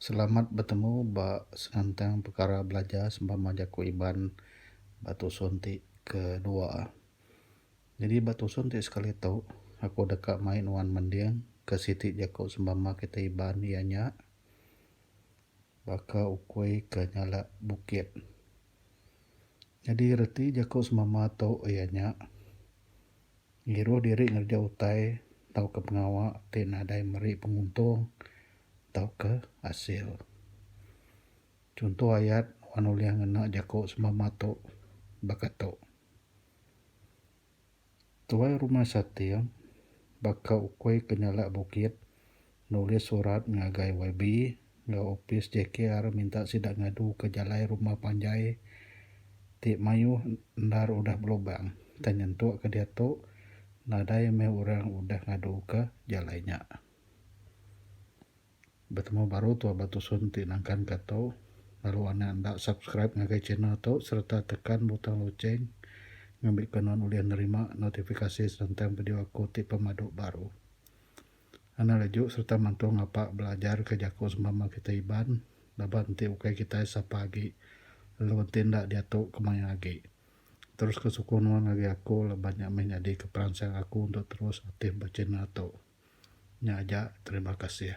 Selamat betemu ba senentang pekara belajar sempama jaku Iban ba tusun ti kedua. Nyadi ba tusun ti sekali tu aku deka mai nuan mending ke siti jaku sempama kita Iban iya nya baka ukui ke nyala bukit. Nyadi reti jaku sempama tu iya nya Ngiruh diri ngereja utai tauka pengawa ti nadai meri penguntung tauka asil. Chunto ayat wan ulih ngena jaku sembama tu baka tu. Tuai rumah sating baka ukui ke nyalak bukit. Nulis surat ngagai YB enggau opis JKR minta sida ngaduka jalai rumah panjai ti mayuh endar udah belubang tang nyentuk ke diatu nadai meh orang udah ngaduka jalai nya. Betemu baru tua ba tusun ti nangkanka tu lalu anak enda subscribe ngagai channel tu sereta tekan butang lucheng ngambika nuan ulih nerima notifikasi senentang video aku ti pemadu baru. Anak Leju sereta Mantu Ngapa belajarka jaku semama kitai Iban laban enti ukai kitai sapa agi lalu enti enda diatu ke mayuh agi. Teruska sukung nuan ngagai aku laban nya meh nyadika peransang aku untuk terus aktif ba channel tu. Nya aja terima kasih.